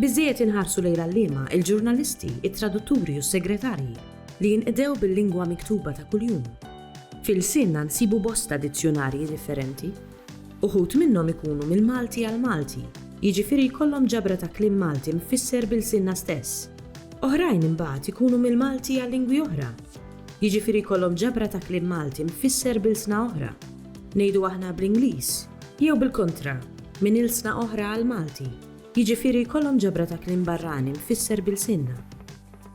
Biżżejjed inħarsu lejn l-għalliema, il-ġurnalisti, it-tradutturi u s-segretarji li jinqdew bil-lingwa miktuba ta' kuljum. F'ilsienna nsibu bosta dizzjunarji differenti. Uħud minnhom ikunu mill-Malti għall-Malti, jiġifieri jkollhom ġabra ta' kliem Malti mfisser b'ilsienna stess. Oħrajn imbagħad ikunu mill-Malti għal lingwi oħra, jiġifieri jkollhom ġabra ta' kliem Malti mfisser b'ilsna oħra, ngħidu aħna bl-Ingliż, jew bil-kontra, minn ilsna oħra għall-Malti. Jiġifieri jkollhom ġabra ta' kliem barrani mfisser b'ilsienna.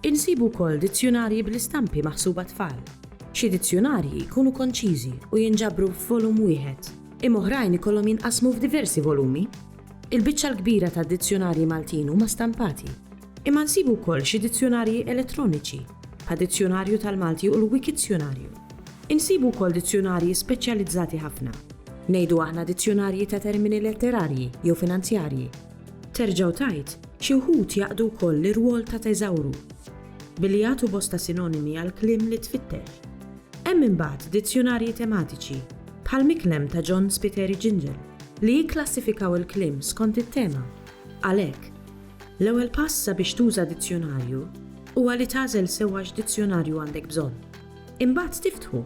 Insibu wkoll dizzjunarji bl-istampi maħsub għat-tfal. Xi dizzjunarji jkunu konċiżi u jinġabru f'volum wieħed, imma oħrajn ikollhom jinqasmu f'diversi volumi. Il-biċċa l-kbira tad-dizzjunarji Maltin huma stampati. Imma nsibu wkoll xi dizzjunarji elettroniċi, bħal Dizzjunarju tal-Malti u l-Wikizzjunarju. Insibu wkoll dizzjunarji speċjalizzati ħafna. Ngħidu aħna dizzjunarji ta' termini letterarji jew finanzjarji. Terġa' u tgħid, xi wħud jaqdu wkoll l-irwol ta' teżawru, billi jagħtu bosta sinonimi għall-kliem li tfittex. Hemm imbagħad dizzjunarji tematiċi, bħal Miklem ta' John Spiteri Gingell, li jikklassifikaw il-kliem skont it-tema. Għalhekk. L-ewwel pass sabiex tuża dizzjunarju huwa li tagħżel sewwa x'dizzjunarju għandek bżonn. Imbagħad tiftħu.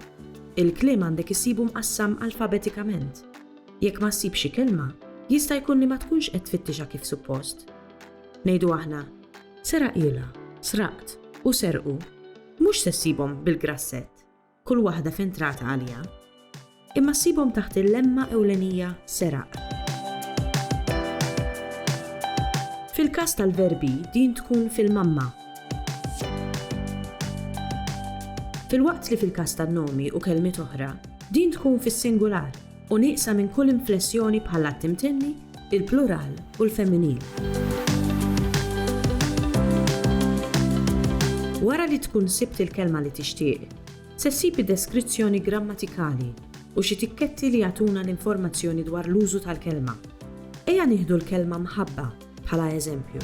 Il-kliem għandek issibu mqassam alfabetikament. Jekk ma ssibx xi kelma, jista' jkun li ma tkunx qed tfittixha kif suppost. Ngħidu aħna, seraqilha, sraqt u serqu, mhux se ssibhom bil-grassett. kull waħda f'entrata għalija, imma ssibhom taħt il-lemma ewlenija seraq. Fil-każ tal-verbi din tkun fil-mamma. Filwaqt li fil-każ tan-nomi u kelmiet oħra, din tkun fis-singular. u nieqsa minn kull inflessjoni bħall-att imtenni, il-plural u l-femminil. Wara li tkun sibt il-kelma li tixtieq, se ssib id-deskrizzjoni grammatikali u xi tikketti li jagħtuna l-informazzjoni dwar l-użu tal-kelma. Ejja nieħdu l-kelma mħabba bħala eżempju.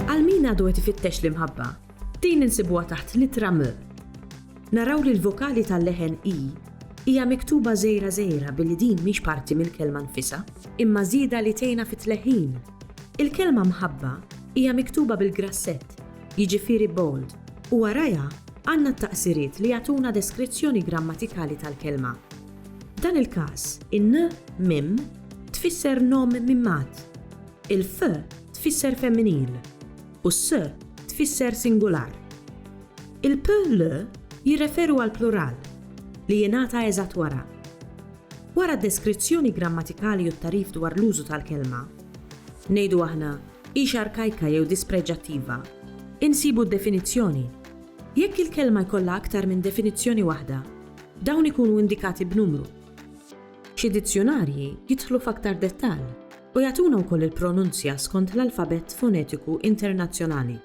Għal min għadu qed ifittex l-imħabba, Din insibuha taħt l-ittra M. Naraw li l-vokali tal-leħen i hija miktuba żgħira żgħira billi din mhix parti mill-kelma nfisha, imma żieda li tgħinha fit-tleħħin. Il-kelma mħabba hija miktuba bil-grassett, jiġifieri bold, u warajha għandna t-taqsiriet li jagħtuna deskrizzjoni grammatikali tal-kelma. F'dan il-każ, in-n mim tfisser nom mimmat, il-f tfisser femminil. u s tfisser singular. Il-p, l jirreferu għall-plural, li jingħata eżatt wara. Wara d-deskrizzjoni grammatikali u t-tagħrif dwar l-użu tal-kelma, ngħidu aħna, hix arkajka jew dispreġġattiva, insibu d-definizzjoni. Jekk il-kelma jkollha aktar minn definizzjoni waħda, dawn ikunu indikati b'numru. Xi dizzjunarji jidħlu f'aktar dettall. u jagħtuna wkoll il-pronunzja skont l-alfabett fonetiku internazzjonali.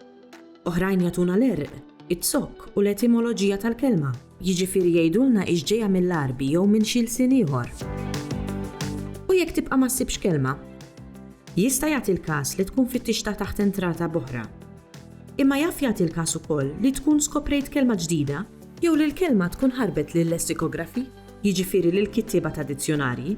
Oħrajn jagħtuna l-għerq, iz-zokk u l-etimoloġija tal-kelma, jiġifieri jgħidulna hix ġejja mill-Għarbi jew minn xi lsien ieħor. U jekk tibqa' ma ssibx kelma? Jista' jagħti l-każ li tkun fittixtha taħt entrata b'oħra. Imma jaf jagħti l-każ ukoll li tkun skoprejt kelma ġdida jew li l-kelma tkun ħarbet lil lessikografi, jiġifieri lill-kittieba ta' dizzjunarji,